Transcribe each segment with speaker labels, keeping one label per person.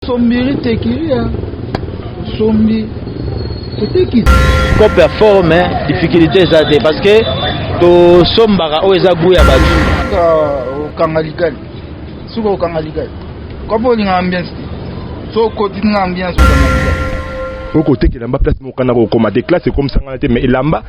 Speaker 1: Sombiri tekilia sombi toteki scope ya
Speaker 2: fort mais difficulté eza te parce que tosombaka oyo eza gout ya bato okanga
Speaker 1: likali soki okanga likali kopo olinga ambiance te so okoti na ambiance okanga likali okotekela
Speaker 3: mba place mokana kokoma te classe ekomisangana te mais elamba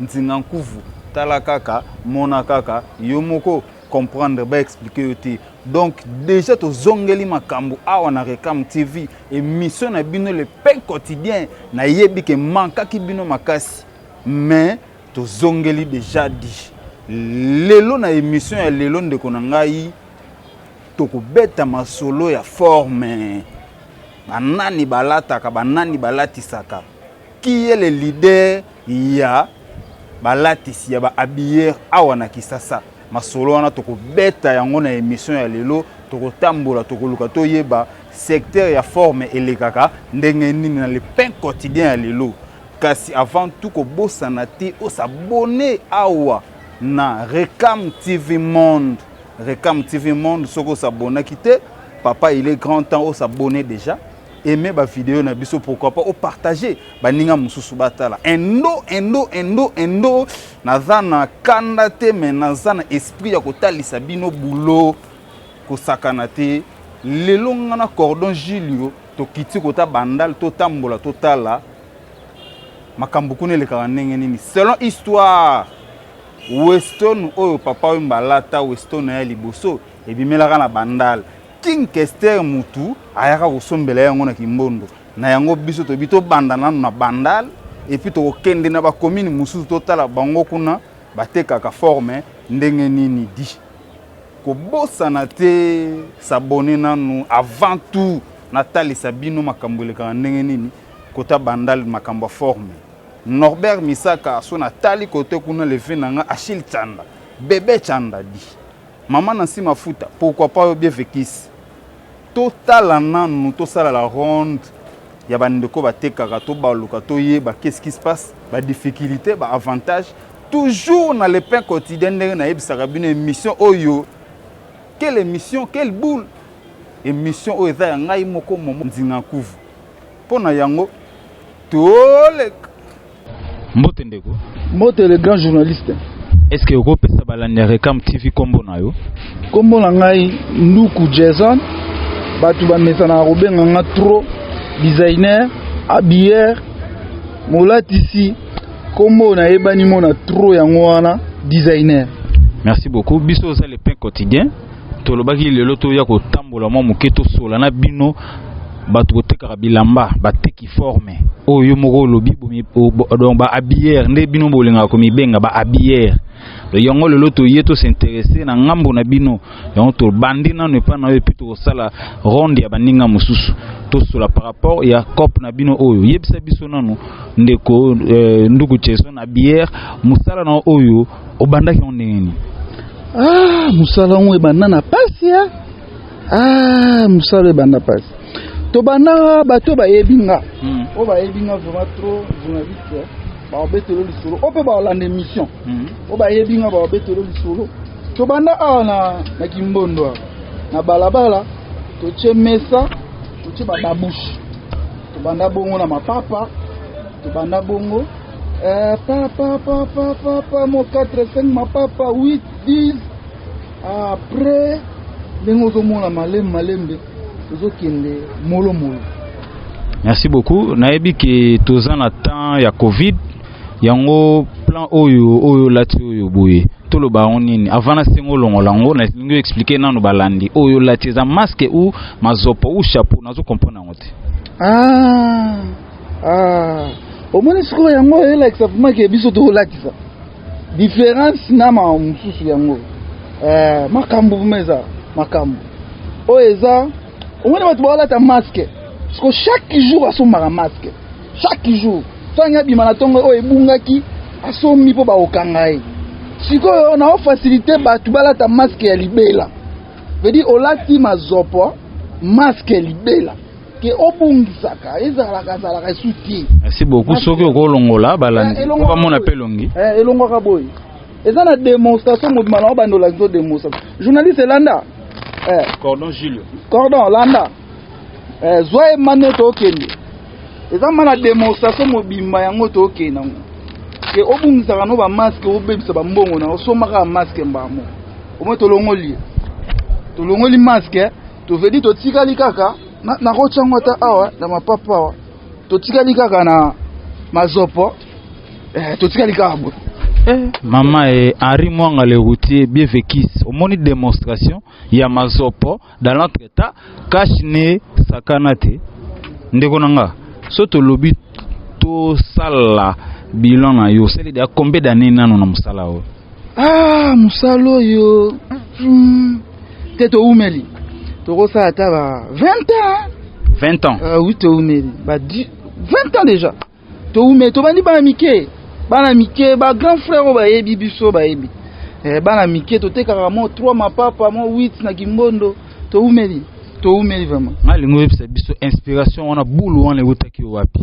Speaker 4: Nzinga nkuvu tala kaka mona kaka yo moko comprendre ba expliquer yo te donc déjà tozongeli makambo awa na reclame tv émission na bino le pain quotidien nayebi ke mankaki bino makasi mais tozongeli déjà dit lelo na émission ya lelo ndeko na ngai tokobeta masolo ya forme banani balataka banani balatisaka Qui est le leader ya balatisi ya ba habilleurs awa na Kisasa? Masolo wana tokobeta yango na emission ya lelo, tokotambola tokoluka toyeba secteur ya forme elekaka ndenge nini na le pain quotidien ya lelo. Kasi avant tout kobosana te o s'abonner awa na Recam TV Monde. Recam TV Monde soki o s'abonnaki te, papa il est grand temps o s'abonner déjà. aime ba video na biso pourquoi pas o partager baninga mosusu batala endo endo endo endo naza na kanda te me naza na esprit ya kotalisa bino bulo kosakana te lelo nga na cordon julio tokiti kota bandal totambola totala makambo kuna elekaka ndenge nini selon histoire weston oyo papa oyo mbalata weston ya liboso ebimelaka na bandal King Kester mutu ayaka kosombela ye yango na Kimbondo. Na yango biso toyebi tobanda nanu na Bandal et puis tokokende na bakomini mosusu totala bango kuna batekaka forme ndenge nini di. Kobosana te s'abonner nanu avant tout natalisa bino makambo elekaka ndenge nini kota Bandal makambo ya forme. Norbert Misaka so natali kote kuna leve na nga Achille Tshanda, Bebe Tshanda di. Maman Nancy Mafuta pourquoi pas yo Bievekis totala nanu tosala la ronde ya ba ndeko batekaka tobaluka toyeba qu'est-ce qui se passe ba difficultes ba avantages toujours na le pain quotidien ndenge nayebisaka bino emission oyo quelle emission quelle boule emission oyo eza ya ngai moko Momo Ndzingankuvu. Mpo na yango toleka.
Speaker 5: Mbote ndeko. Mbote le grand
Speaker 1: journaliste. Est-ce que okopesa
Speaker 5: balandi ya Recam TV kombo na yo? Kombo na ngai
Speaker 1: Nduku Jason. Bato bamesanaka kobenga nga trop designer, habilleur, molatisi. Kombo nayebani mona trop yango wana designer. Merci beaucoup.
Speaker 5: Biso oza le pain quotidien. tolobaki lelo toya kotambola mwa moke tosola na bino bato kotekaka bilamba bateki forme oyo yo moko olobi donc ba habillere nde bino bolingaka komibenga ba habillere yango lelo toye tosinteresse na ngambo na bino yango tobandi nano epai na yo epuis tokosala ronde ya baninga mosusu tosola par rapport ya cope na bino oyo yebisa biso nano ndeko euh, nduku jason habillere mosala na oyo obandaki yango ndenge nini ah
Speaker 1: mosala yango ebanda na pasi ya ah mosala ebanda pasi tobanda bato bayebi nga hmm. oyo bayebi nga vraiment trop journaliste baobetelo lisolo oyo mpe baolanda émission hmm. oyo bayebi nga baobetelo lisolo tobanda awa na, na kimbondo awa na balabala totie mesa totie bababushe tobanda bongo na mapapa tobanda bongo Eh, papa, papa, papa, mo 4, 5, ma papa, 8, 10. Après, ndenge ozomona malembe malembe tozokende molomolo
Speaker 5: merci beaucoup nayebi ke toza na temps ya covid yango plan oyo oyo olati oyo boye toloba yango nini avant na sengo olongola yango nalingi oexplike nano balandi oyo olati eza masque ou mazopo ou chapeau nazo comprendre yango te ah. Ah,
Speaker 1: omoni sikoyo yango elakisa vraimen ke biso tokolatisa différence na mawa mosusu yango eh, makambo vraimen eza makambo oyo eza omoni bato baolata maske siko chaque jour asombaka maske chaque jour sangi abima na ntongo oyo ebungaki asombi mpo bakokanga ye sikoyo na ofasilite bato balata maske ya libela vedi olati mazopo maske libela ke obungisaka ezalaka azalaka esu te merci beaucoup soki
Speaker 5: okolongola balandi eh, po bamona mpe elongi eh, elongwaka boye
Speaker 1: eza na démonstration mobima na obanda olakisa démonstration journaliste elanda eh. cordon
Speaker 5: julio cordon landa
Speaker 1: zwa ye mane tookende eza ma na démonstration mobimba yango tookende yango ke obungisaka no bamaske obebisa bambongo na osombaka bamaske mbamo omoi tolongoli ye tolongoli maske Tovedi totikali kaka nakotya yango ata awa na mapapa awa, totikali kaka na mazopo eh, totikali kaka bo eh, mama
Speaker 5: eh, Henri Mwanga le routier bien vécu omoni démonstration ya mazopo dans notre état cache ne sakana te ndeko na nga so tolobi tosala bilan na yo osali deya combien d'année nano na mosala oyo ah mosala
Speaker 1: oyo hmm. te toumeli tokosala ata ba 20 ans 20 ans
Speaker 5: uh, oui toumeli ba
Speaker 1: 20 ans déjà toumeli tobandi bana mike bana mike ba grand frère oyo bayebi biso bayebi eh, bana mike totekaka mo 3 mapapa mo 8 na kimbondo toumeli toumeli vraiment nalingi oyebisa
Speaker 5: biso inspiration wana bulu wana ewutaki yo wapi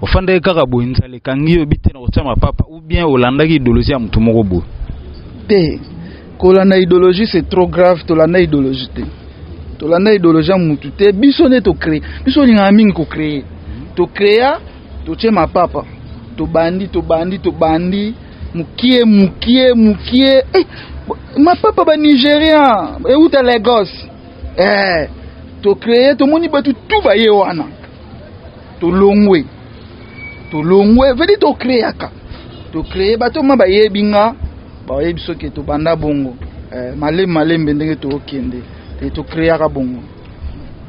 Speaker 5: ofandaki kaka boye nzala ekangi yo oyebi te na kotia mapapa ou bien olandaki idologie ya motu moko boye te
Speaker 1: kolanda idologie c'est trop grave tolanda idologie te tolanda idologie ya motu te biso nde tocree biso olingaka mingi kocree tocrea totie mapapa tobandi tobandi tobandi mukie mukie mukie eh, mapapa ba nigérien euta lagos eh, tocree tomoni bato tu baye wana tolongwe tolongwe vedi tokreaka tokree bato ma bayebi nga bayebi soki tobanda bongo eh, malembe malembe ndenge tokende te tokreaka bongo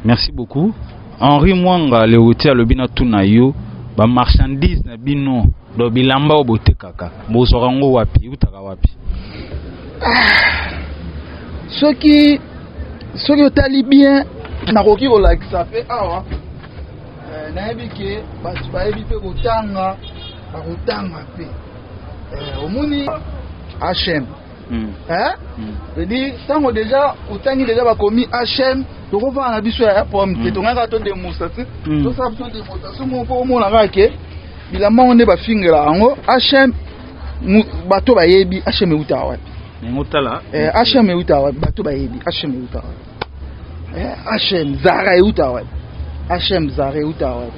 Speaker 1: merci
Speaker 5: beaucoup henri mwanga lewoti alobi na tuna yo bamarchandise na bino do bilamba oyo botekaka bozwaka yango wapi eutaka wapi ah,
Speaker 1: soki soki otali bien nakoki kolakisa mpe awa Eh, nayebi ke bato bayebi mpe kotanga bakotanga mpe eh, omoni hm edi ntango deja otangi deja bakomi hm tokovana na biso ya pome te hmm. tongaka to demosa te hmm. tosala biso demotation moko mpo omona kaka ke bilamba yango nde bafingela yango hm bato bayebi hm euta wapi hm euta wapi bato bayebi hm euta wapi Eh, HM Zara euta wapi? HM Zara euta wapi?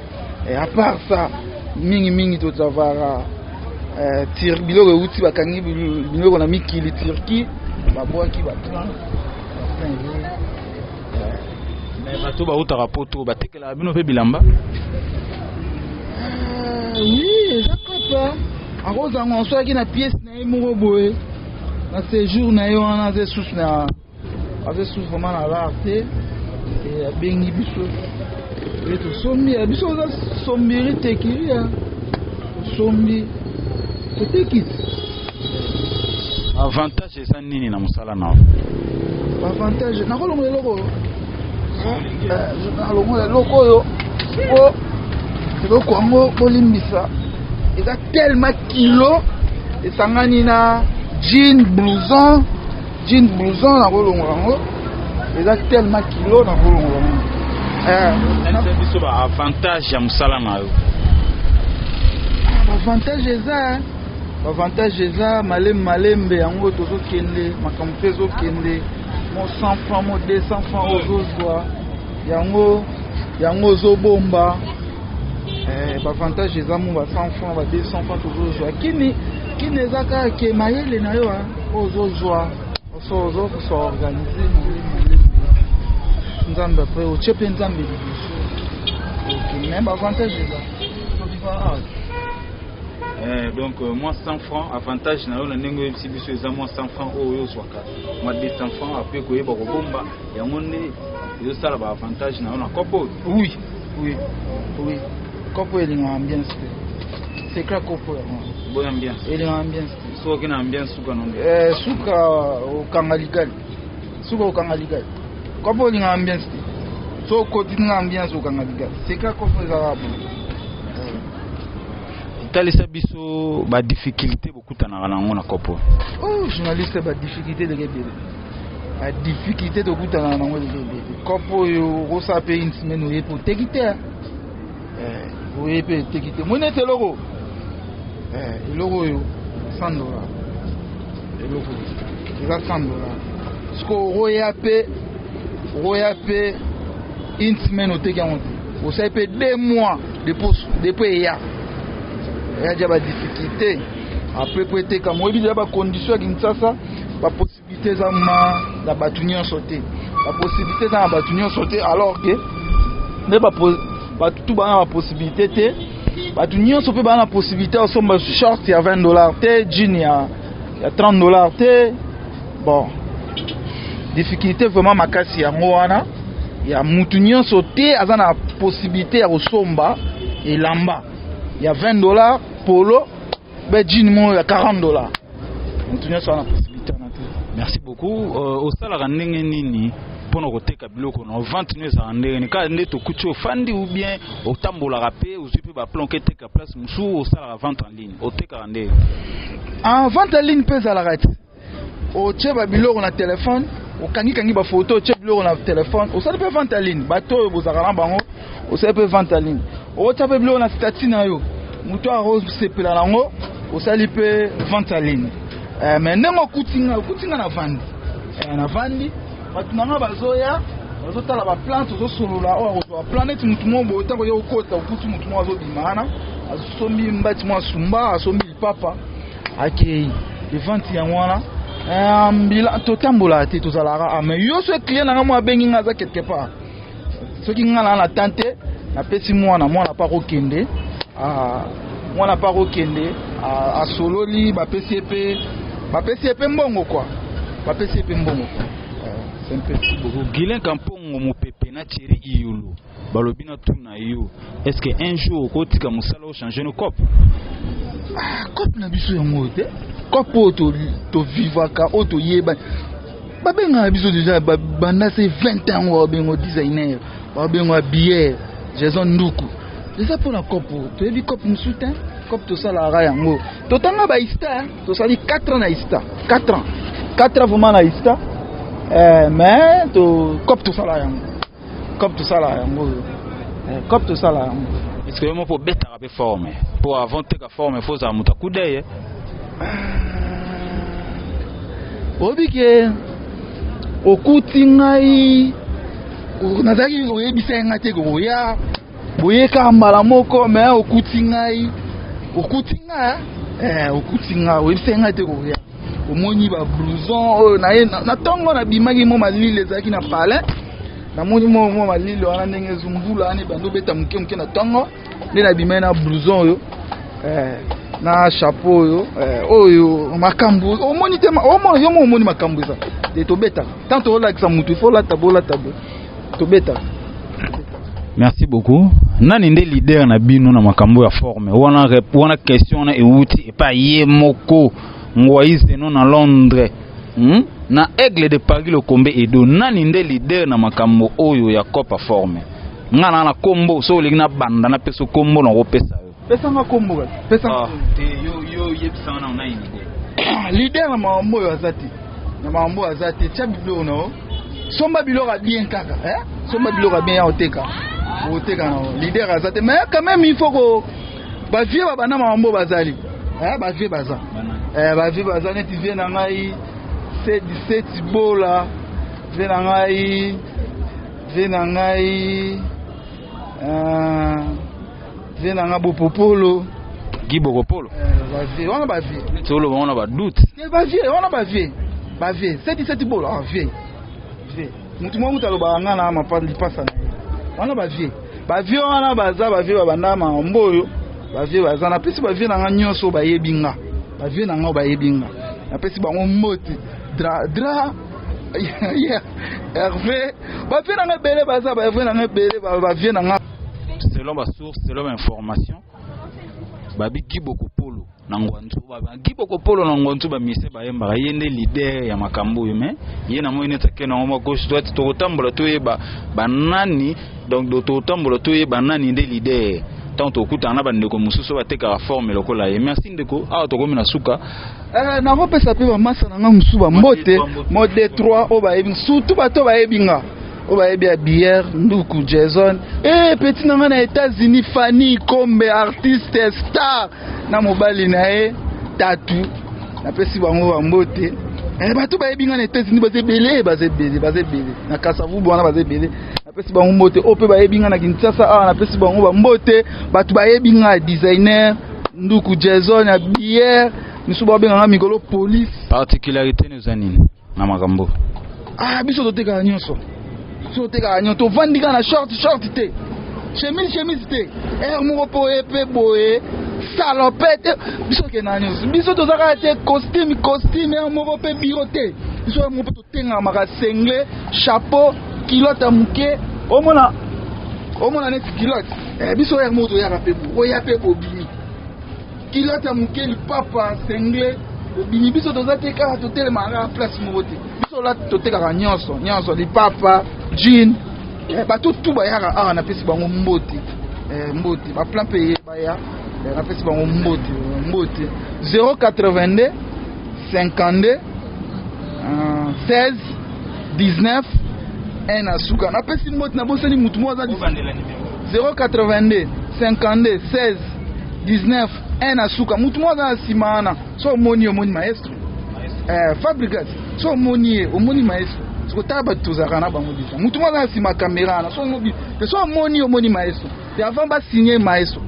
Speaker 1: Eh, à part ça, mingi mingi tozavara eh, tir biloko euti bakangi biloko na mikili Turquie, babwaki ba 30 eh,
Speaker 5: bato bautaka poto batekelaka bino mpe bilamba
Speaker 1: eh, oui eza kaka akozanga osolaki na pièce na ye moko boye na séjour na ye wana aza esusu na aza esu vraiment na lar te abengi biso e tosombi ya biso oza sombiri tekiria tosombi totekiti
Speaker 5: avantage eza nini na mosala na
Speaker 1: avantage nakolongola eloko nalongola eh, eloko oyo po eloko yango bolimbisa eza tellement kilo esangani na jean blouson Jean blouson na kolongola yango eza tellement kilo na kolongola yango. Eh,
Speaker 5: biso ba avantage ya
Speaker 1: mosala
Speaker 5: na yo. Ah, ba avantage
Speaker 1: eza hein. ba avantage eza malembe malembe yango tozokende makambo mpe ezokende mo 100 francs mo 200 francs ozozwa yango yango ozobomba eh, bavantage eza mo ba 100 franc ba 200 franc tozozwa kini kini eza kaka ke mayele na yo ozo zwa oso ozo kusa organise nzambe apre otie mpe nzambe liboso ok mais baavantage
Speaker 5: eza Eh, donc euh, moins 100 francs avantage na yo na ndenge oyebisi biso eza moins 100 francs oyo oyo ozwaka mwa 200 francs apres koyeba kobomba yango nde ezosala baavantage na yo na kopo oyo oui oui oui
Speaker 1: kopo elingaka ambiance te secret kopo yango bonne ambiance elingaka
Speaker 5: ambiance
Speaker 1: soki na ambia suka
Speaker 5: no eh suka
Speaker 1: okanga ligali suka okanga ligali kwa po linga ambiance te so koti na ambiance okanga ligali seka ko fo ezala bo eh.
Speaker 5: talisa biso ba difficulté bokutanaka na yango na kopo oh journaliste
Speaker 1: ba difficulté de kebele ba difficulté tokutanaka na yango de kebele kopo oyo okosa pe une semaine oye po teki te eh, boye mpe eteki te moi neti eloko eh, eloko oyo 100 dola eloko eza 100 dola sikoyo okoya mpe okoya mpe une semaine oteki yango te osali mpe deux mois depuis eya eya ja badifficulté après mpo eteka moyebi deja bacondition ya kinshasa Possibilité eza ma na batu nyonso te ba possibilité eza na batu nyonso te alors que nde batu tu bana ba possibilité te batu nyonso mpe baa na possibilité ya kosomba short ya 20 dollar te jean ya, ya 30 dollar te bon difficulté vraiment makasi yango wana ya mutu nyonso te aza na possibilité ya kosomba elamba ya 20 dollar polo ba jean moko ya 40 dollars moto nyonso wana possibilité wana te merci beaucoup
Speaker 5: euh, osalaka ndenge nini mpo na koteka biloko na vente no ezalaka ndenge nini kaka nde tokuti ofandi ou bien otambolaka mpe ozwi mpe baplan ke teka place mosusu osalaka vente en ligne otekaka ndenge ah,
Speaker 1: vente en ligne mpe ezalaka te otie babiloko na telefone okangikangi bafoto otie biloko na telefone osali mpe vente ya ligne bato oyo bozalaka na bango osali mpe vente ya ligne otia mpe biloko na stati na yo moto akosepela na yango osali mpe vente ya ligne eh, me ndenge okuti ngai okuti ngai na vandi eh, na vandi bato na ngai bazoya bazotala baplante ozosolola oyo akozwa plan neti motu moko boye ntango ye okota okuti motu moko azobima wana asombi mbati mwa sumba asombi Papa akei evanti yango wana eh, mbila totambolaka te tozalaka a ah, mais yo so client na ngai mwa abengi ngai aza quelque part soki ngai naa na temps te napesi mwana mwana mpe akokende ah, mwana mpe akokende ah, asololi bapesi ye mpe bapesi ye mpe mbongo kwa bapesi ye mpe mbongo eh, c'est un peu guilin
Speaker 5: kampongo mopepe na thierry iyulu balobi na tuna yo est ce que un jour okotika mosala ochange no cop ah,
Speaker 1: cop na biso yango oyo te cop oyo tovivaka oyo toyeba babengaka biso deja banda se 20 ans oyo babengo designer babengo abiere jason nduku eza mpo na cop oyo toyebi cop mosusu te cop tosalaka yango totanga baista tosali 4 ans na ista 4 ans 4 ans vraiment na ista eh, mais cop tosalaka yango Cop tosala yango oyo. Eh, Cop tosala yango. Est-ce que yo moko obetaka
Speaker 5: pe forme? Po avant teka forme faut ozala moto akudeye.
Speaker 1: Oyebi ke okuti ngai nazalaki koyebisa ye ngai te koya boye kaka mbala moko me okuti ngai okuti ngai eh, okuti ngai oyebisaki ngai te koya omoni ba blouson oyo oh, naye na ntongo nabimaki mo malili ezalaki na palais namoni mo mo malili wana ndenge ezumbula wana ebandi obeta moke moke na ntongo nde nabimaki na blouson oyo eh, na chapeau oyo eh, oyo makambo omoni te omoni yo mo omoni makambo eza te tobetaka ntango tozolakisa motu ifo olata bolata boye tobeta
Speaker 5: merci beaucoup nani nde leader na bino na makambo ya forme wana rep- wana question wana ewuti epa ye moko ngwaise no na londres hmm? na aigle de paris lokombe edo nani nde leader na makambo oyo ya copa forme nga na na kombo so olingi na banda napesa yo kombo na kopesa yo Pesa nga kombo kaka.
Speaker 1: Pesa nga. Ah. Te yo yo
Speaker 5: yebisa nga na nini te. Leader na mambo
Speaker 1: oyo aza te. Na mambo oyo aza te. Tia biloko na yo. Somba biloko ya bien kaka. Eh? Somba biloko ya bien ya oteka. Oteka na yo. Leader aza te. Mais quand même il faut ko ba vieux ba bana mambo bazali. Eh ba vieux baza. Eh ba vieux baza neti vieux na ngai. C'est 17 bola. Vieux na ngai. Vieux na ngai. Euh Vie na nga bopopolo. Guy Bokopolo.
Speaker 5: Eh, ba vie,
Speaker 1: wana ba vie. Neti oloba wana ba doute.
Speaker 5: Eh, ba vie, wana ba
Speaker 1: vie. Ba vie, seti seti bolo, ah vie. Vie. Mutu mwa mutu alobaka nga na mapa lipasa na ye. Wana ba vie. Ba vie wana baza ba vie babanda mambo oyo. Ba vie baza na pesi ba vie na nga nyonso bayebi nga. Ba vie na nga bayebi nga. Na pesi bango mbote. Dra dra Hervé, ba vie na nga ebele baza ba vie na nga ebele ba ba vie na nga. selon ba source
Speaker 5: selon ba information babi gibokopolo na ngwanzu gibokopolo na ngwanzu bamise bayembaka ye nde lider ya makambo oyo mai ye namoni neti ake nango mwa gauche droite tokotambola toyeba banani donc tokotambola toyeba nani nde lider ntango tokutana na bandeko mosusu batekaka forme lokola ye merci ndeko awa tokomi na suka eh, nakopesa
Speaker 1: mpe bamasa na ngai mosusu bambote mo detroit oyo bayebi surtout bato bayebi nga oyo bayebi ya bière nduku jason e eh, peti na ngai na états-unis fanny kombe artiste star na mobali na ye tatu napesi bango bambote eh, bato bayebi ngai na états-unis baza ebele baza ebele baza ebele na kasavubu wana baza ebele napesi bango mbote oyo mpe bayebi ngai na kinshasa awa napesi bango bambote bato bayebi ngai designer nduku jason ya bière misusu babenga ngai mikolo police particularité neza
Speaker 5: nini na makambo ah biso
Speaker 1: totekaka nyonso biso totekaka nyonso tovandi kaka na short short te chemise chemise te ere eh, moko mpo ye mpe boye salopete eh, biso okenda nyonso biso toza kaka te costume costume ere eh, moko mpe biro te biso ere moko mpe totengamaka sengle chapeau kilote ya moke omona omona neti kilote biso ere moko toyaka mpe oyaka mpe bobimi Kilata muke lipapa sengle obimi biso toza te kaka totelemaka place moko te biso la totekaka nyonso nyonso lipapa jean eh, bato tu bayaka awa napesi bango mbote eh, mbote baplan mpe ye baya eh, napesi bango mbote mbote 082 52 16 19 1 na suka napesi mbote nabosani motu moko aza 082 52 16 19 1 na suka mutu moko aza na nsima wana so omoni ye omoni maestro eh, fabrigas so omoni ye omoni maestro sikotala bato tozalaka na bango deja mutu moko aza na nsima kamera wana so omoni ye omoni maestro te avant basigne maestro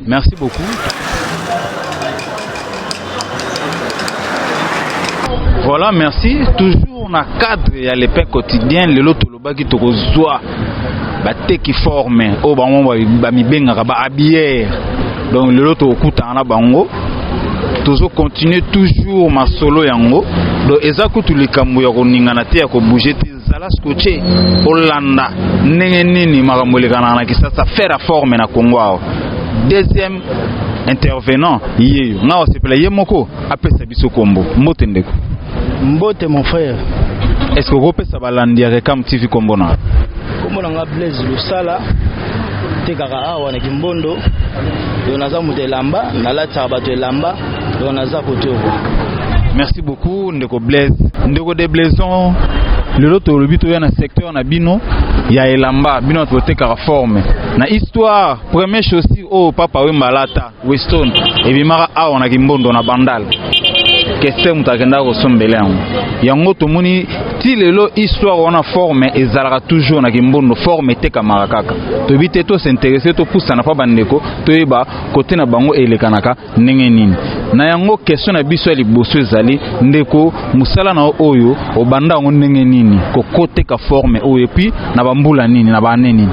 Speaker 1: Merci beaucoup.
Speaker 5: Voilà, merci. Toujours na cadre ya le pain quotidien, lelo tolobaki tokozwa bateki forme oyo bango bamibengaka ba habillere donc lelo tokokutana na bango tozo continuer toujours masolo yango donc eza kutu likambo ya koningana te ya kobouge te Zala scotché olanda ndenge nini makambo elekanaka na Kisasa faire à forme na Congo awa. Deuxième intervenant yeyo nga osepela ye moko apesa biso kombo mbote ndeko mbote
Speaker 2: mon frère est ce que
Speaker 5: okopesa balandi ya rekam tv kombo na kombo na nga
Speaker 2: blaise losala tekaka awa na kimbondo yo naza moto elamba nalataka bato elamba donc naza kote oko merci
Speaker 5: beaucoup ndeko blaise ndeko de blaison lelo tolobi toya na secteur na bino ya elamba bino bato botekaka forme na histoire premier chaussure oyo papa wemba alata weston ebimaka awa na kimbondo na bandal kester moto akendaka kosombela yango yango tomoni ti lelo histoire wana forme ezalaka toujours na kimbondo forme etekamaka kaka toyebi te tosinterese topusana mpa bandeko toyeba kote na bango elekanaka ndenge nini na yango question na biso ya liboso ezali ndeko mosala na oyo obanda yango ndenge nini kokoteka forme oyo epuis na bambula nini na baane nini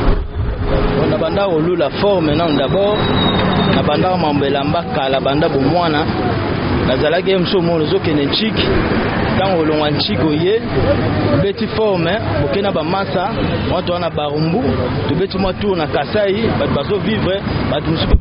Speaker 5: nabanda
Speaker 2: kolula forme nano dabord nabandaka mambo elamba kala banda bomwana nazalaki ye mosu omona ozokende nciki ntango olongwa nciki oye obeti forme oke na bamasa mwa toa na barumbu tobeti mwa tour na kasai bato bazovivre bato mosusu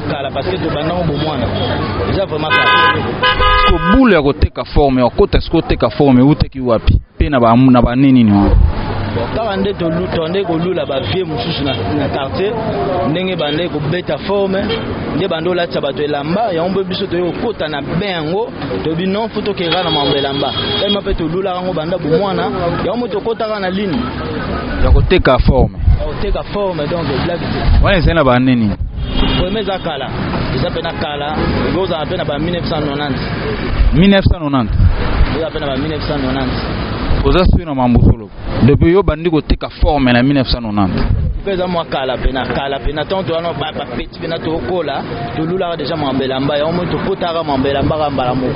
Speaker 2: kala parce que tobanda ngo bomwana eza vraiment kala siko bule
Speaker 5: ya koteka forme okota siko oteka forme eutaki wapi mpe na bane nini wana kaka nde
Speaker 2: tonde kolula bavie mosusu na quartier ndenge bande kobeta forme nde bande olatisa bato elamba yango mpe biso toyei kokota na be yango toyebi non fo tokendaka na mambo elamba tellement mpe tolulaka yango banda bomwana yango mpe tokotaka na lini ya koteka
Speaker 5: forme koteka forme donc
Speaker 2: blague te wana ezali na banini
Speaker 5: premier eza
Speaker 2: kala eza mpe na kala ekozala mpe na ba 1990 1990 eza mpe na ba 1990 oza sui
Speaker 5: na mambo solo depuis yo bandi koteka forme na 1990 mpe eza mwa
Speaker 2: kala mpe na kala mpe na temps toyano pena tokola tolulaka deja mambe elamba yango moi topotaka mambe elamba ka mbala moko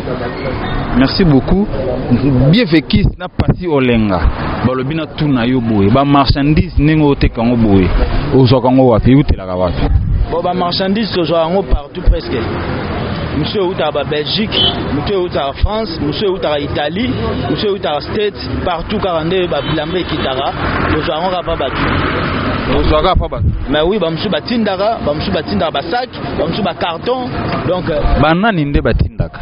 Speaker 2: merci
Speaker 5: beaucoup bien vekis na pasi olenga balobi na tu na yo boye bamarchandise ndenge oteka yango boye ozwaka yango wapi eutelaka wapi bon bamarchandise
Speaker 2: tozwaka yango partout presque mosusu eutaka ba belgique mosusu eutaka france mosusu eutaka italie mosusu eutaka state Partout kaka nde ba bilamba ekitaka, ozwa yango kaka pa bato. Ozwa kaka pa bato? Mais oui, ba mosusu batindaka, ba mosusu batindaka ba sac, ba mosusu ba carton. Donc euh, ba nani nde
Speaker 5: batindaka?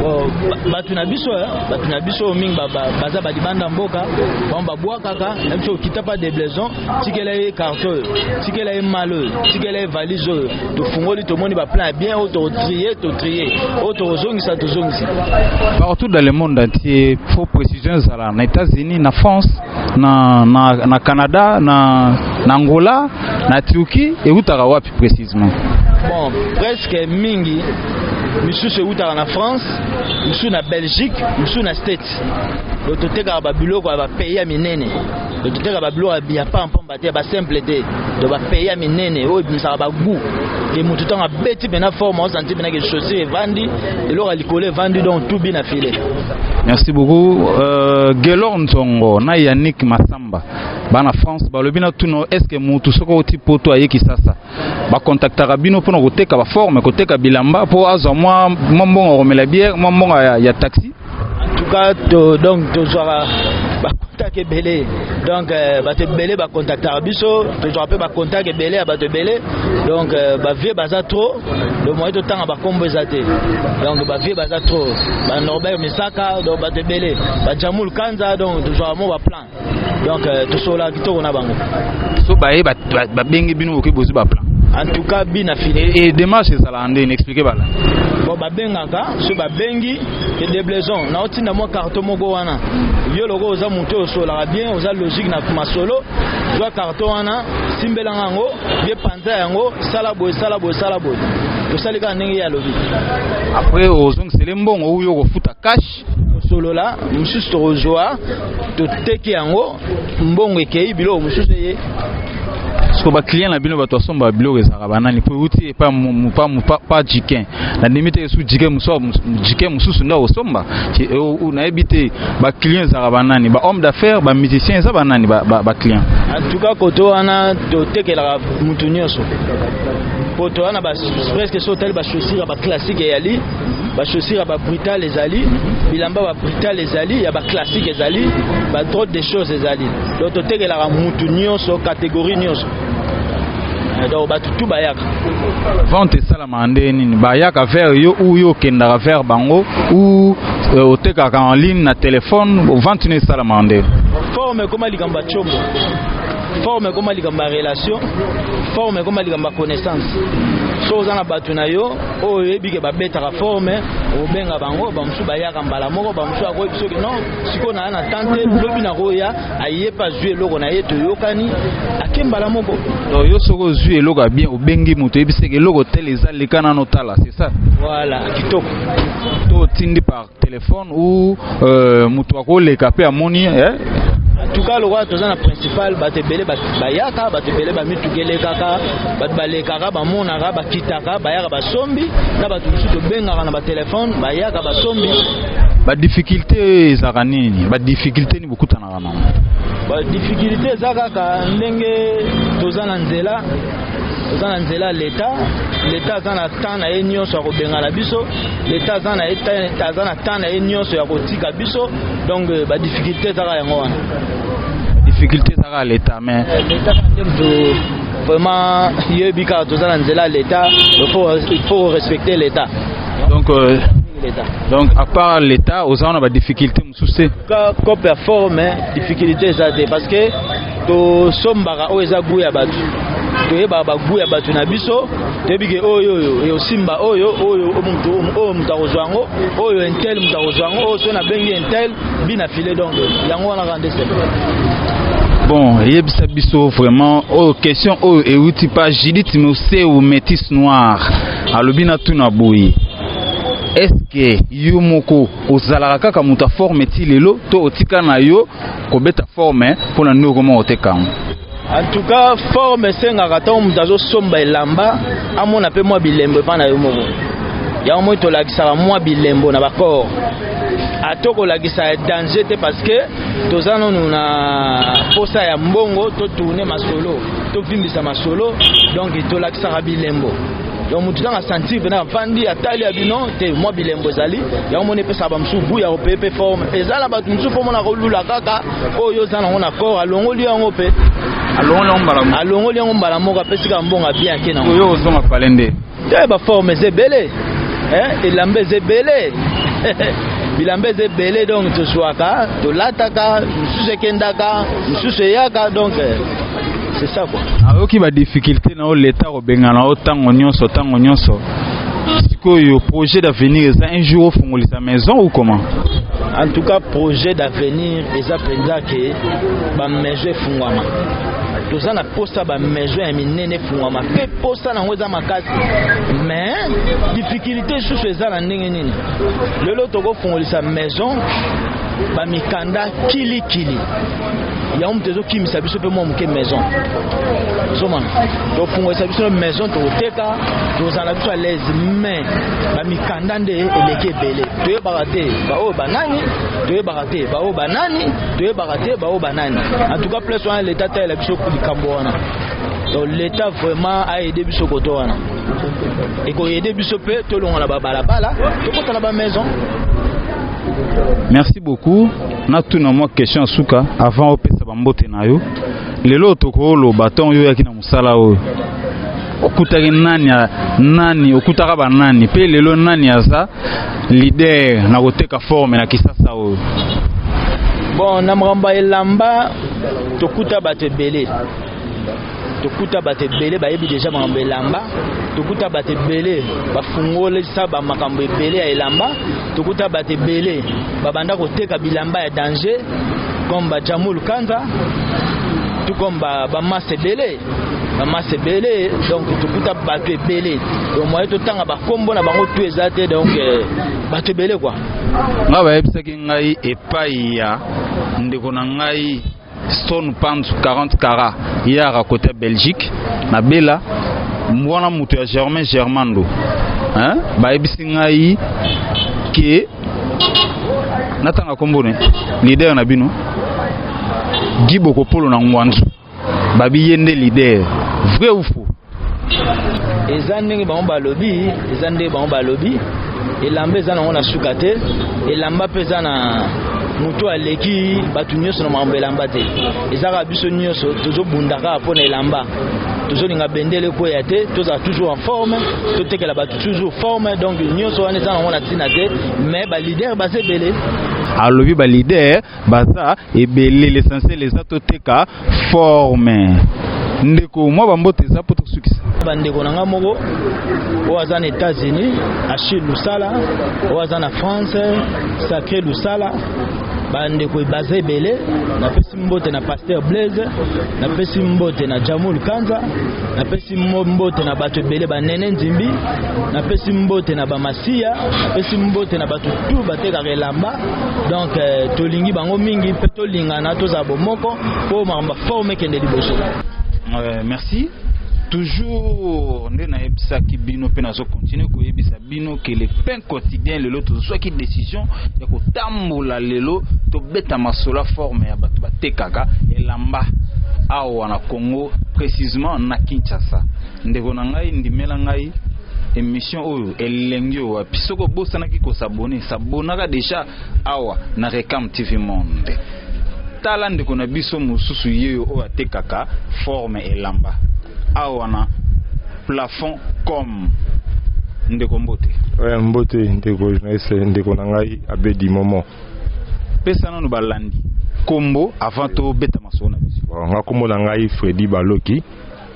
Speaker 5: Oh, bato na biso eh,
Speaker 2: bato na biso mingi baza ba libanda mboka, bango babwakaka na biso okita pa deblaison tikela ye carte oyo tikela ye mal oyo tikela ye valise oyo tofungoli tomoni baplan ya bien oyo totrie totrie oyo tokozongisa tozongisa
Speaker 5: partout dans le monde entier fo précision ezala na états-unis na france na, na, na canada na, na angola na turquie eutaka wapi précisement bon
Speaker 2: presque mingi misusu eutaka na france misusu na belgique misusu na states oyo totekaka babiloko ya bapays ya minene Donc toteka ba biloko ya pamba pamba te ba simple te donc ba pays ya minene oyo ebimisaka ba goût ke motu ntango abeti mpena forme osanti mpena ke chaussure evandi eloko ya likolo evandi donc tout bina file merci
Speaker 5: beaucoup euh, gelor nzongo na yannick masamba bana france balobi na tuno est ce que motu soki oti poto aye kisasa bakontaktaka bino mpona koteka baforme koteka bilamba mpo azwa mwa mbongo akomela biere mwa mbongo ya, ya taxi En tout cas,
Speaker 2: to, donc tozwaka bakontak ebele donc euh, bato ebele bakontaktaka biso tozwaka mpe bakontak ebele ya bato ebele donc euh, bavie baza trop donc moye totanga bakombo eza te donc bavie baza trop banorbert misaka donc bato ebele bajamul kanza donc tozwaka mo baplan donc euh, tosola kitoko na bango so baye
Speaker 5: babenge bino boke bozwi baplan en tout cas bina
Speaker 2: fini e démarche ezalaka
Speaker 5: ndeni explike bala bon babengaka
Speaker 2: so babengi edeblaison naotinda mwa carton moko wana yo loko oza moto oyo osolaka bien oza logique na masolo zwa carton wana simbelanga yango ye panza yango sala boye sala boye sala boye tosali kaka ndenge ye alobi après
Speaker 5: ozongisele mbongo oyo okofuta cash solola
Speaker 2: mosusu tokozwa toteki yango mbongo ekei biloko mosusu eye
Speaker 5: siko baclient na bino bato basomba biloko ezalaka banani mpo euti pa jikin na ndimi te esu jike jike mosusu nde akosomba nayebi te baclient ezalaka banani ba homme d'affaires ba musicien eza banani baclient antuka koto
Speaker 2: wana totekelaka motu nyonso mpo toza na presque so otali bachaussure ya baclassique eyali ba chaussures ya ba brutal ezali bilamba ba brutal ezali ya ba classique ezali ba trop de choses ezali donc totekelaka mutu nyonso catégorie nyonso eh, donc bato tu bayaka vente
Speaker 5: esalamaka ndenge nini bayaka vers yo ou yo okendaka vers bango ou euh, otekaka en ligne na telefone vente no esalamaka ndenge forme ekoma likambo
Speaker 2: ya combo forme ekoma likambo ya relation forme ekoma likambo ya connaissance so oza na bato na yo oyo oyebi ke babetaka fort me obenga bango bamosusu bayaka mbala moko bamosusu akoyebi soki non sikoyo naa na temps te lobi nakoya aye mpe azwi eloko na ye toyokani ake mbala moko donc yo soki ozwi
Speaker 5: eloko ya bien obengi moto oyebiseke eloko tele eza leka nano tala c'est ça voilà kitoko
Speaker 2: to otindi
Speaker 5: par Telephone ou euh, mutu akoleka pe amoni eh? tuka
Speaker 2: lokola toza na principal bato ebele bayaka bato ebele bamituka elekaka bato balekaka bamonaka bakitaka bayaka basombi na bato mosusu tobengaka na batelefone bayaka basombi badifficulté
Speaker 5: ezalaka nini badifficulté nini bokutana ezalaka nango ba
Speaker 2: difficulté eza kaka ndenge toza na nzela toza na nzela leta leta aza na temps na ye nyonso ya kobengana biso leta aza na aza na temps na ye nyonso ya kotika biso donc euh, ba difficulté ezaka yango wana difficulté
Speaker 5: ezaka leta mais euh, leta nde moto
Speaker 2: vraiment yebi kaka toza na nzela leta il faut respecter leta donc euh,
Speaker 5: donc à part leta oza na ba difficulté souci ka cope ya fort
Speaker 2: mais difficulté eza te parce que tosombaka oyo eza gout ya bato toyebaka bagout ya bato na biso toyebi ke oyo oyo eosimba oyo oyo moto oyo moto akozwa yango oyo intel moto akozwa yango oyo soki nabengi intel bi na file donc yango wana kaka nde sebe
Speaker 5: bon eyebisa biso vraiment oyo oh, question oyo oh, euti pa judith moseu métis noir alobi na tuna boye est ce que yo moko ozalaka kaka moto ya forme ti lelo to otika na yo kobeta forme mpo na nde okoma oteka yango en tout
Speaker 2: cas forme esengaka ntango moto azosomba elamba amona mpe mwa bilembo epai na yo moko yango moi tolakisaka mwa bilembo na bacor ata kolakisa ya danger te parce que toza nanu na mposa ya mbongo totourne masolo tovimbisa masolo donc tolakisaka bilembo yango moto ezanga sentir mpena avandi atali ya bino te mwa bilembo ezali yango moni epesaka bamosusu bu ya kopeye mpe forme eza na bato mosusu mpo mona kolula kaka oyo oza nango na corps alongoli yango mpe alongoli yango mbala moko apesi kaka mbongo bien ake nango oyo ozonga pale nde
Speaker 5: te baforme
Speaker 2: eza ebele elamba eza ebele bilamba eza ebele donc tozwaka tolataka mosusu ekendaka mosusu eyaka donc C'est ça quoi. Ayoki ba difficulté
Speaker 5: na o leta ko bengana o tango nyonso tango nyonso. Sikoyo projet d'avenir eza un jour ofungolisa maison ou comment? En tout cas
Speaker 2: projet d'avenir eza penza que ba maison efungwama. toza na posa ba maison ya minene efungwama mpe posa nango eza makasi mais difficulté lisusu eza na ndenge nini lelo tokofungolisa maison bamikanda kilikili yango moto ezokimisa biso mpe mwa moke maison zomana tofungolisa biso maison tokoteka tozala biso alaise mais bamikanda nde eleki ebele toyebaka te baoyo banani toyebaka te baoyo banani toyebaka te baoyo banani en tout cas place wana leta atalela biso likambo wana donc leta vraiment aide biso koto wana ekoyede biso mpe tolongola babalabala tokota na bamaison merci
Speaker 5: beaucoup natuna mwa question ya suka avant opesa bambote na yo lelo tokoloba ntango yo oyaki na mosala oyo okutaki nani nani okutaka banani mpe lelo nani aza lider na koteka forme na kisasa oyo
Speaker 2: bon na makambo ya elamba tokuta bato ebele tokuta bato ebele bayebi deja makambo ya elamba tokuta bato ebele bafungolisa bamakambo ebele ya elamba tokuta bato ebele babanda koteka bilamba ya danger comme bajamul kanza tout comme bamasse ba ebele bamasse ebele donc tokuta bato ebele donc moye totanga bakombo na bango tu eza te donc euh, bato ebele kua ngai bayebisaki
Speaker 5: ngai epai ya ndeko na ngai Stone Panzu 40 kara ye a racote ya Belgique na Bela mwana moto ya Germain Germando hein? bayebisi ngai ke natanga nkombo ne leader na bino Guy Bokopolo na Ngwanzu babi ye nde leader vrai ou faux
Speaker 2: eza ndenge bango balobi eza ndenge bango balobi elamba eza nango na suka te elamba mpe eza na moto aleki bato nyonso na makambo elamba te eza kaka biso nyonso tozobunda kaka mpo na elamba tozolinga bendele ekweya te tozala toujours en forme totekela bato toujours forme donc nyonso wana eza nango na ntina te mais balider baza ebele alobi
Speaker 5: balider baza ebele l'essentiel eza toteka forme ndeko mwa bambote eza mpo tosukisa bandeko na ngai moko
Speaker 2: oyo aza na états-unis achille lusala oyo aza na france sacré lusala bandeko baza ebele napesi mbote na paster blaise napesi mbote na jamul kanza napesi mbote na bato ebele banene nzimbi napesi mbote na bamasiya napesi mbote na bato tu batekaka elamba donc euh, tolingi bango mingi mpe tolingana tozala bomoko mpo makambo ya forme ekende liboso euh, merci
Speaker 5: toujours nde nayebisaki bino mpe nazo continue koyebisa bino ke le pain quotidien lelo tozwaki décision ya kotambola lelo tobeta masola forme ya bato batekaka elamba awa na congo précisement na kinshasa ndeko na ngai ndimela ngai emission oyo elengi oyo wapi soki obosanaki kosabone sabonaka deja awa na recam tv monde tala ndeko na biso mosusu yeyo oyo atekaka forme elamba awa na plafond comme ndeko mbote oya mbote
Speaker 3: ndeko journaliste ndeko na ngai abedi momo pesa
Speaker 5: nano balandi kombo avant tobeta masolo na biso nga kombo na ngai
Speaker 3: fredi baloki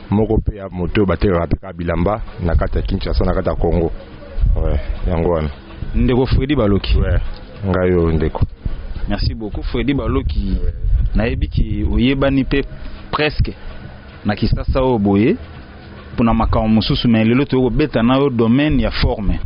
Speaker 3: moko mpe ya moto oyo batekaka mpe kaka bilamba na kati ya Kinshasa na kati ya Congo ouais, yango wana ndeko Freddy
Speaker 5: Baloki ouais. ngai oyo
Speaker 3: ndeko merci beaucoup
Speaker 5: Freddy Baloki ouais. nayebi ki oyebani mpe presque na Kisasa oyo boye mpona makambo mosusu me lelo toyokobeta na yo domaine ya forme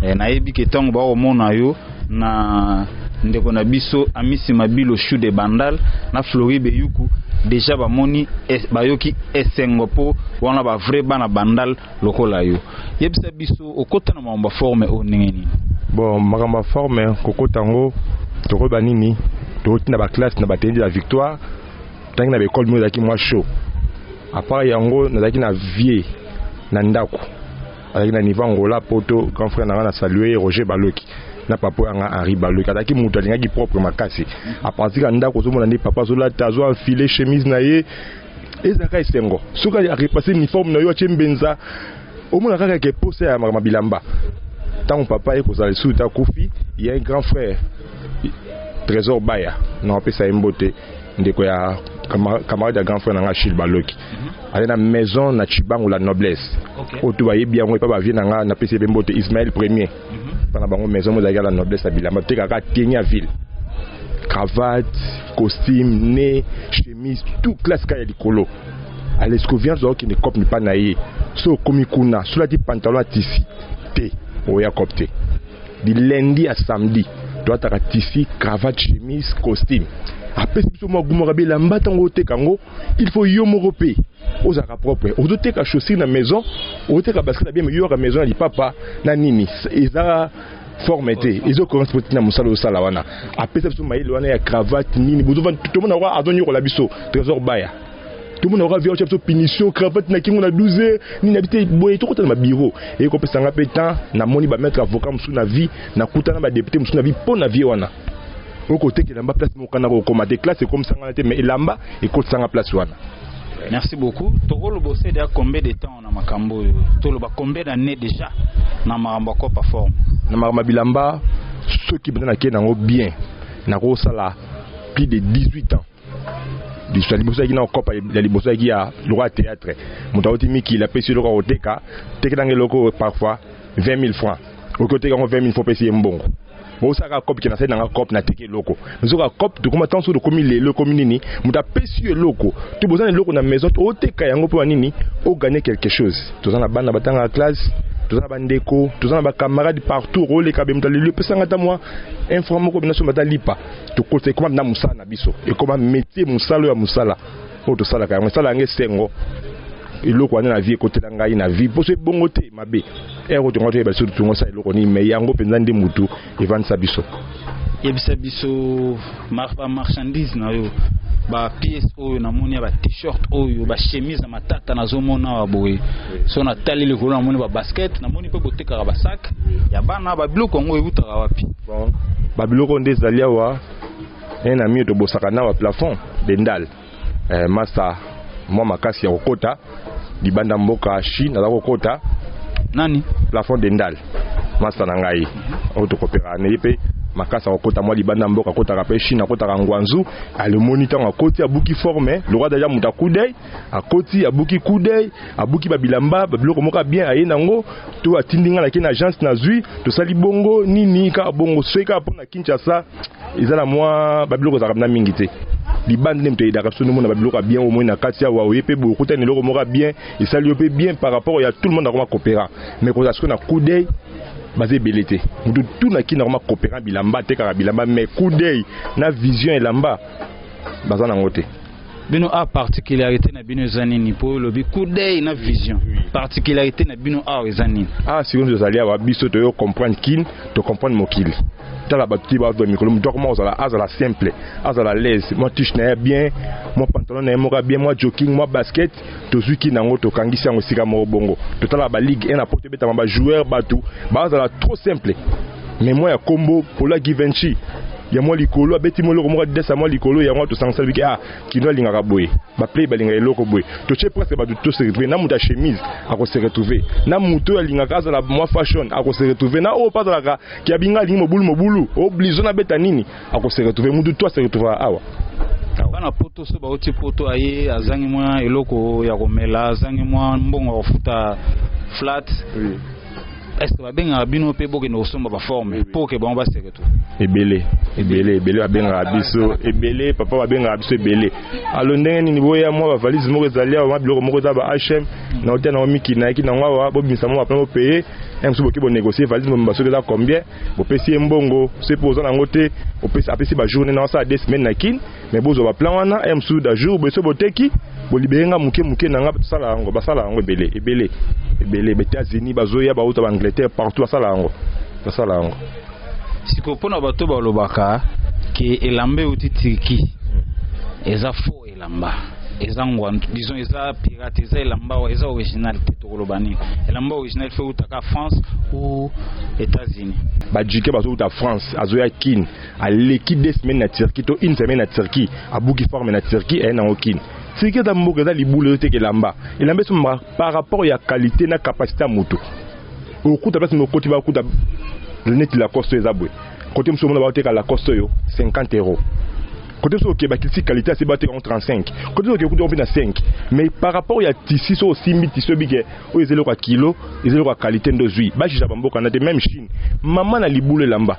Speaker 5: ouais. eh, nayebi ke ntango bakomona yo na ndeko na biso amisi mabilo chou de bandal na flori beyuku deja bamoni bayoki esengo mpo wana ba vrai bana bandal lokola yo yebisa biso okota na makambo ya forme oyo ndenge nini bon makambo ya
Speaker 3: forme kokota yango tokoyeba nini tokotinda baklasse na bateni de la victoire ntangi na baekole moko ezalaki mwa chaud apart yango nazalaki na vie na ndako azalaki na niveau Angola poto grand frère nanga na salue ye Roger Baloki na papa yanga Henri Baloki azalaki moto alingaki propre makasi a partir ya ndako ozomona nde papa azolata azo enfile chemise na ye ezalaka esengo soki arepase uniforme na yo atie mbenza omona kaka ke posa ya makambo bilamba ntango papa ye kozala lisusu te akufi ya un grand frère trésor baya na wapesa ye mbote ndeko ya camarade ya grand frère na nga achille baloki aza na maison na chibangu la noblesse okay. oyo to bayebi yango epa bavie na ngai napesi mpe mbote ismael premier mhm. mpo na bango maison mozalaki la noblesse ya bilamba totekaka teni ya ville cravate costume ne chemise tout classe kaka ya likolo alescovian ozokende cope mipa na ye so okomi kuna solati pantalon ya tisi te oya cope te di lundi ya samedi toataka tisi cravate chemise costume apesi biso mwa gumaka bilamba ntango oteka yango il faut yo moko mpe ozalaka propre ozoteka chaussure na maison ozoteka basket na bien mais yoyaka maison ya lipapa na nini eza forme te ezo correspond na mosala osala wana apesa biso mayele wana ya cravate nini bozovanda tomona yango azonyokola biso trésor baya tomona yango avia biso punition cravate na kingo na 12 heures nini na bite boye tokota na babiro eye kopesa nga mpe temps namoni bamaître avocat mosusu na vie nakutana badepute mosusu na vie mpo na vie wana oko teke lamba place moko kana ko koma te classe ekomi sangana te mais elamba ekoti sanga place wana Merci beaucoup.
Speaker 5: Tokolo bossé déjà combien de temps na makambo yo? Toloba combien d'années déjà na makambo ko perform? Na makambo bilamba
Speaker 3: ceux qui bana na ken nango bien. Na ko sala plus de 18 ans. lisu ya liboso yaki na kokopa ya liboso yaki ya lokola théâtre moto auti mikili apesi eloko akoteka tekelanga eloko oyo parfois 20 000 francs oki oteka yango 20 000 fo opesi ye mbongo bosaka cope ke nasali nanga cope nateki eloko nzoka cope tokoma ntango soki tokomi lelo ekomi nini moto apesi yo eloko to boza na eloko na maison oteka yango mpo ya nini oganye quelque chose toza na bana batangaka classe toza na bandeko toza na bacamarade partout oleka be moto aleli opesanga ata mwa infra moko binaso bata lipa tokotisa ekoma na mosala na biso ekoma métier mosala ya mosala oyo tosalaka yango esala yango esengo eloko wana na vie ekotela ngai na vie mposo ebongo te mabe ere oyo tonga toyeba lisusu tongo osala eloko nini mai yango mpenza nde motu evandisa biso yebisa
Speaker 5: biso bamarchandise na yo bapiece oyo namoni ya batshirt oyo bachemise ya matata nazomona awa boye so natali likolo namoni babasket namoni mpe botekaka basak ya bana babiloko yango ewutaka wapi Ba
Speaker 3: biloko nde ezali awa eh, na mio tobosaka na ba plafond de ndal eh, masta mwa makasi ya kokota libanda mboka Chine aza kokota nani
Speaker 5: plafond de ndal
Speaker 3: masta na ngai oyo tokopeka na ye mpe makasi akokota mwa libanda mboka akotaka mpe chine akotaka ngwanzu alemoni ntango akoti abuki forme lokwa deja moto akudei akoti abuki coup d'oeil abuki babilamba babiloko moko ya bien aye nango to atindi ngai nake na agence nazwi tosali bongo nini kaka bongo soki kaka mpo na kinshasa eza na mwa babiloko ezalaka mna mingi te libanda nde moto ayedaka biso nomona babiloko ya bien omoi na kati awa oye mpe bokuta na eloko moko ya bien esali yo mpe bien par rapport ya tout le monde akoma coopera mais kozala sikoyo na coup d'oeil baza ebele te moto tu na kini akoma coopera bilamba atekaka bilamba mais coup d'oeil na vision elamba baza nango te bino
Speaker 5: a particularité na bino eza nini mpo olobi coup d'œil na vision particularité na bino awa eza nini awa ah, sikoyo tozali awa
Speaker 3: biso toyo comprendre kin to comprendre mokili tala bato ti bazwa mikolo moto akoma kozala azala simple azala laise mwa tiche na ye bien mwa pantalon na ye moko bien mwa joking mwa basket tozwi kin yango tokangisi yango esika moko bongo totalaka ba ligue 1 na poto ebetama ba joueur bato bazala trop simple mais mwa ya kombo pola givenchi ya mwa likolo abeti mwa eloko moko adidasa mwa likolo yango tosangisala biki ah kino alingaka boye baplay balingaka eloko boye totie presque bato to se retrouve na moto ya chemise ako se retrouve na moto oyo alingaka azala mwa fashion ako se retrouve na oyo mpe azalaka kiabinga alingi mobulu mobulu oblizo na beta nini Ako se retrouver mutu toi se retrouvera awa. Bana
Speaker 5: poto so bauti poto aye azangi mwa eloko ya komela azangi mwa mbongo ya kofuta flat oui. est-ce que babengaka bino mpe bokende kosomba baforme mpo ke bango baseke to ebele
Speaker 3: ebele ebele babengaka biso ebele papa babengaka biso ebele alo ndenge nini boya mwa bavalise moko ezali awa mwa biloko moko eza ba hm na otia nango miki nayaki nango awa bobimisa mwa bapena bopeye yango mosusu boki bonegocie valise mobimba soki eza combien bopesi ye mbongo soki mpo oza nango te opesi apesi ba journée na osala deux semaines na kin mais bozwa ba plan wana ya mosusu da jour boye soki boteki bolibere nga moke moke na nga tosala yango basala yango ebele ebele ebele ba états-unis bazoya bauta ba angleterre partout basala yango basala yango
Speaker 5: siko mpo na bato balobaka ke elamba euti turquie eza faux elamba eza ngwandu disons eza pirate eza elamba eza original te tokoloba nini elamba original fe utaka france ou états-unis bajuke bazowuta
Speaker 3: france azoya kin aleki deux semaine na turquie to une semaine na turquie abuki forme na turquie aye nango kin turquie eza mboka eza libula ezoteka elamba elamba esomba par rapport ya qualité na capacité ya motu okuta place mokoti bakuta neti lacoste eza boye kote mosusu omona baoteka lacoste oyo 50 euros Côté sur que bakiti qualité assez batte en 35. Côté sur que kuto na 5. Mais par rapport ya tissu so simbi tissu bige o ezelo kwa kilo, ezelo kwa qualité ndo zui. Ba jija bamboka na te même Chine. Maman na libule lamba.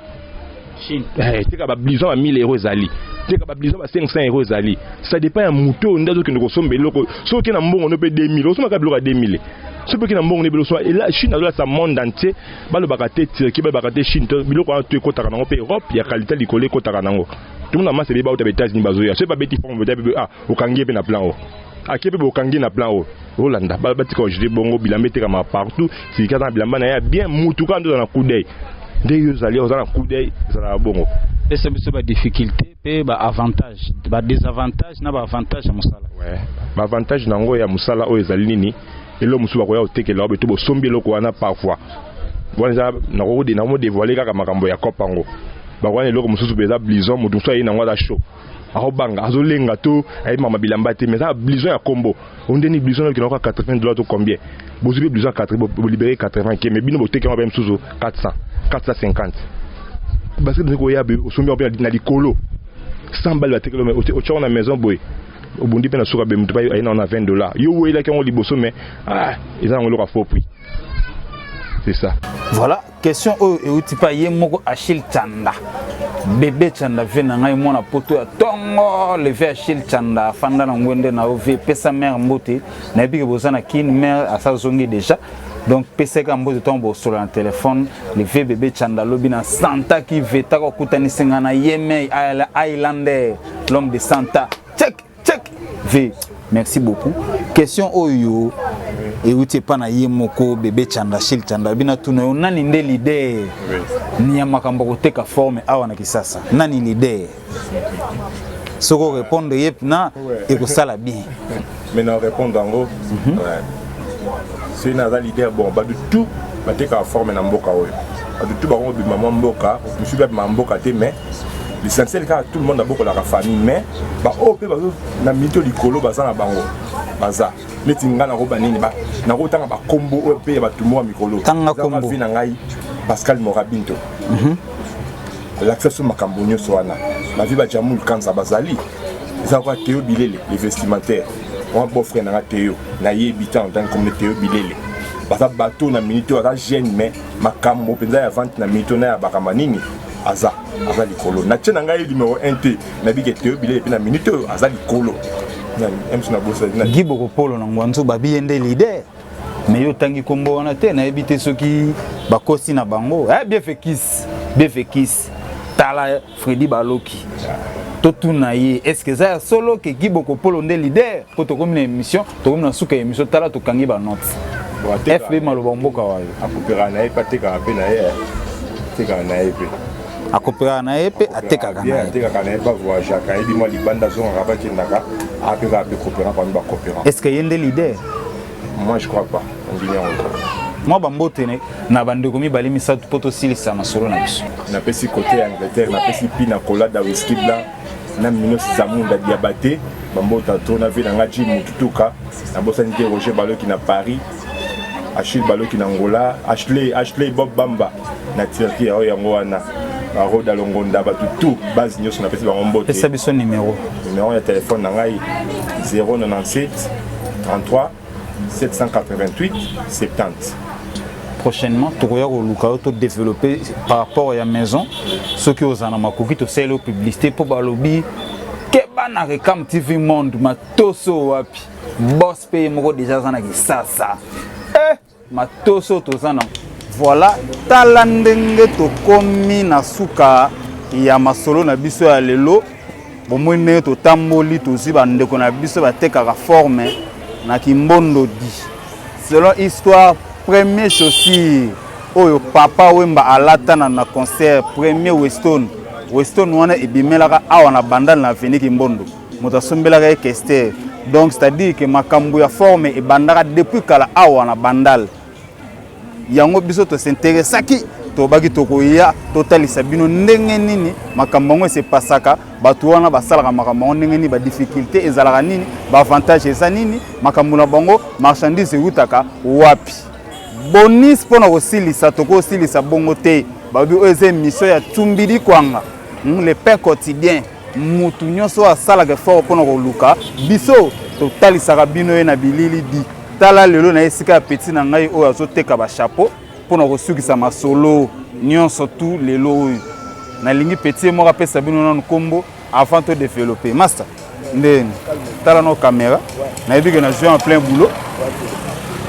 Speaker 3: Chine.
Speaker 5: Eh, teka ba blison
Speaker 3: à 1000 euros ezali. Teka ba blison à 500 euros ezali. Ça dépend ya moto ndazo kende ko sombe loko. So ke na mbongo no pe 2000, osoma ka biloko ya 2000. So pe ke na mbongo ne biloko so et là Chine azola sa monde entier. Ba lobaka te Turquie, ba lobaka te Chine, biloko wana to ekotaka nango pe Europe ya qualité likole ekotaka nango. Tuna masa beba uta betazini bazoya. Soki babeti forme beta bebe ah okangi ye mpe na plan o. Akie mpe bokangi na plan o. Olanda ba batika ojete bongo bilamba etekama partout. Silika aza na bilamba na ye ya bien mutu kaka nde oza na coup d'oeil. Nde yo ozali oza na coup d'oeil ezalaka bongo. Pesa biso ba
Speaker 5: difficultés mpe ba avantages, ba desavantages na ba avantages ya mosala. Ouais. Ba avantages
Speaker 3: na yango ya mosala oyo ezali nini? Eloko mosusu bakoya kotekela obe to bosombi eloko wana par voie wana eza nakokode na modevoile kaka makambo ya cope yango bakoya na eloko mosusu mpenza blison moto mosusu aye nango aza show akobanga azolenga to ayebi mama bilamba te mais eza blison ya kombo ondeni blison nayoki nango 80 dollars to combien bozwi mpe blison ya 80 bolibere 80 ke mais bino boteki yango mpe mosusu 400 450 basket nde koya osombi yango mpe na likolo 100 bale batekeli otyaka na maison boye obundi mpe na suka be moto mpe aye na wana 20 dollars yo oyelaki yango liboso mais ah, eza yango eloko ya faux prix c'est ça voilà question
Speaker 4: oyo euti mpa ye moko achille chanda bebe chanda vie na ngai mwana poto ya tongo le vie achille chanda afanda na ngwende na yo vie pesa mare mbote nayebi ke boza na kin mare asazongi déjà donc peseka mbote ntango bosolola na telefone leve bebe chanda alobi na santaki vetaka okutanisi ngai na yemei islander l'homme de santa check check v merci beaucoup question oyo euti epa na ye moko bebe chanda shil chanda abi natuna yo nani nde lider ya makambo ya koteka forme awa na kisasa nani lider soki orépondre ye mpna ekosala bien mais na répondre
Speaker 3: yango mhm. soki naza lider bon bato tout batekaka forme na mboka oyo bato tout bakobima mwa mboka mosusu babima mboka te mais l'essentiel kaka tout le monde abokolaka famille mais baoyo mpe bazo na mito likolo baza na bango baza neti ngai nakoba nini nakotanga bakombo oyo mpe ya bato moya mikolo vi na ngai pascal morabinto mhm. alakisa so makambo nyonso wana bavi bajamul kanza bazali eza kwa teo bilele le vestimentaire wana beau frère na ngai teo nayebi ntango ntango komne teo bilele baza bato na minute oyo aza jeune mais makambo mpenza ya vente na minute oyo nayabaka manini aza aza likolo na tie na ngai numero 1 te nabike te bile epi na minute oyo aza likolo gi bokopolo na ngwanzu
Speaker 4: babi ye nde lider me yo otangi nkombo wana te nayebi te soki bakosi na bango eh, biefekisi biefekisi tala fredi baloki totuna ye estce eza ya solo ke gi bokopolo nde lider mpo tokomi na émission tokomi na suka ya emission tala tokangi ba note fb maloba mboka wayo akopera na ye pe atekaka
Speaker 3: pe na ye eh. atekaka na ye pe akopekaka na
Speaker 4: ye mpe atekaka na ye atekaka na ye bavoyageaka
Speaker 3: ayebi mwa libanda azongaka bakendaka apekaka mpe coopérant parmi bacoopérant est ce que ye nde leader
Speaker 4: moi je
Speaker 3: crois pas ondimi yango mwa bambote
Speaker 4: na bandeko mibale misato mpo tosilisa masolo na biso napesi kote ya
Speaker 3: angleterre napesi mpina kolada wiski blanc na minos zamunda diabate bambota to na vie na nga jim mututuka nabosani te roger baloki na paris achille baloki na ngola ashley ashley bob bamba na turquie oyo yango wana baroda longonda bato tout base nyonso napesi bango mbote pesa biso numero
Speaker 4: numero ya telefone na
Speaker 3: ngai 097 33 788 70
Speaker 4: prochainement tokoya koluka yo to développer par rapport ya maison soki ozala na makoki tosaleli yo publicité mpo balobi keba na recam tv monde matoso wapi bos mpe ye moko deja aza na kisasa Matoso toza na. Voilà, tala ndenge tokomi na suka ya masolo na biso ya lelo. Bomoi ndenge totamboli tozwi bandeko na biso batekaka forme na kimbondodi selon histoire premier chaussure oyo papa wemba alatana na concert premier weston weston wana ebimelaka awa na bandal na aveni kimbondo moto asombelaka ye kester donc c'est-à-dire que makambo ya forme ebandaka depuis kala awa na bandal yango biso tosinteresaki tobaki tokoya totalisa bino ndenge nini makambo yango esepasaka bato wana basalaka makambo yango ndenge nini badifficulté ezalaka nini baavantage eza nini makambo na bango marchandise eutaka wapi bonis mpo na kosilisa tokosilisa bongo te babi oyo eza emission ya tumbidi kwanga hmm, le pain quotidien Mutu nyonso oyo asalaka effort mpo na koluka biso, totalisaka bino ye na bilili di. Tala lelo na esika ya petit na ngai oyo azoteka ba chapeau mpo na kosukisa masolo nyonso tout lelo oyo. Nalingi petit ye moko apesa bino nanu nkombo avant to developper. Masta, nde tala nao camera, nayebi ke nazwi en plein boulot.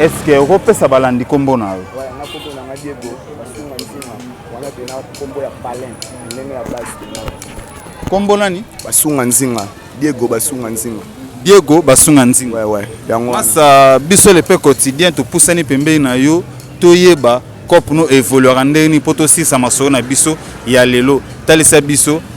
Speaker 4: Est-ce que okopesa balandi nkombo na yo?
Speaker 6: Kombo
Speaker 4: nani? Basunga Nzinga.
Speaker 6: Diego Basunga Nzinga. Diego Basunga Nzinga.
Speaker 4: Ouais, ouais. Yango. Masa
Speaker 6: biso le
Speaker 4: pe quotidien to pusani pembeni na yo to yeba cop no evoluera ndenge nini mpo tosisa masolo na biso ya lelo talisa biso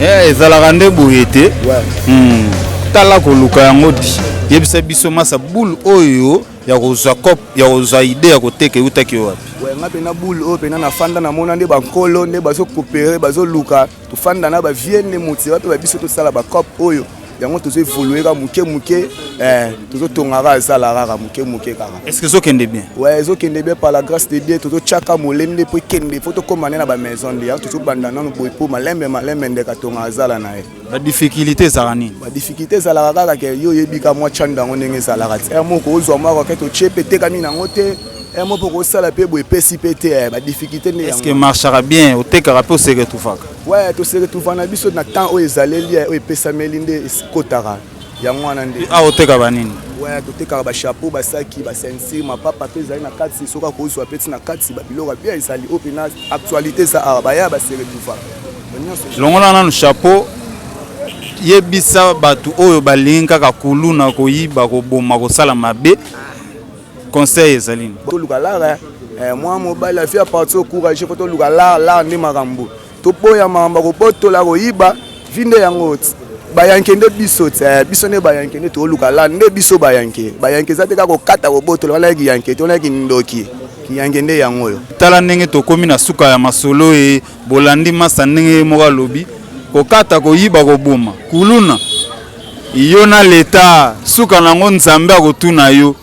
Speaker 1: Eh, ezalaka nde boye te hmm. tala koluka yango yebisa biso masa boule oyo ya kozwa cop ya kozwa idee ya koteka eutaki yo wapi nga mpena boule oyo
Speaker 6: mpena nafanda namona nde bankolo nde bazokopere bazoluka tofanda na bavie nde moti wape babiso tosala bacop oyo yango tozo evolue kaka moke moke eh, tozotonga kaka ezala kaka moke moke kaka est ce que ezokende bien
Speaker 4: we ezokende bien par
Speaker 6: la grâce de dieu tozotyaka molende mpo ekende mpo tokóma nde na bamaison nde yango tozobanda nano boye mpo malembe malembe ndeka tonga azala na ye ba difficulté
Speaker 4: ezalaka nini ba difficulté ezalaka
Speaker 6: kaka ke yo oyebi ka mwa chanda yango ndenge ezalaka ti ere moko ozwa mwa rakete otie mpe etekami na yango te ere moko okosala mpe boye epesi mpe te eh, ba difficulté nde yango eske marchaka bien
Speaker 4: otekaka mpe oseretufaka we toseretufa
Speaker 6: na biso na temps oyo ezaleli eh, oyo epesameli nde ekotaka yango wana nde awa oteka banini
Speaker 4: waya totekaka
Speaker 6: bachapeau basaki basensir mapapa mpe ezali na kati soki akozwa peti na kati babiloko ya bia ezali oyo mpena actualité eza awa baya baseretufa longola
Speaker 4: nanu chapeau yebisa bato oyo balingi kaka kuluna koyiba koboma kosala mabe conseil ezali toluka lara
Speaker 6: eh, mwa mobali afi aparti ocourage po toluka lar lar nde makambo Toboya mamba kobotola koyiba vinde yango bayanke nde biso te eh, biso nde bayanke nde toluka la nde biso bayanke bayanke eza te kaka kokata kobotola wana ya kiyanke te wana ya kindoki kiyanke nde yango oyo tala ndenge tokomi na
Speaker 4: suka ya masolo e bolandi masa ndenge ye moko alobi kokata koyiba koboma kuluna yo na leta suka na yango nzambe akotuna yo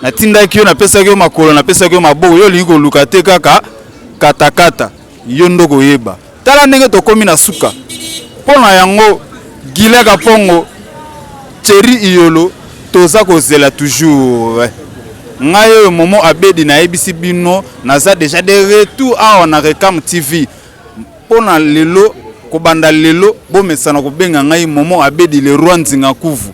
Speaker 4: natindaki yo napesaki yo makolo napesaki yo maboko yo olingi koluka te kaka katakata Yo nde okoyeba. Tala ndenge tokomi na suka. Mpo na yango Guylain Kapongo, Thierry Iyolo toza kozela toujours. Ngai oyo Momo Abedi nayebisi bino naza dejà de retour awa na Recam TV. Mpo na lelo, kobanda lelo bomesana kobenga ngai Momo Abedi le Roi Nzinga Nkuvu.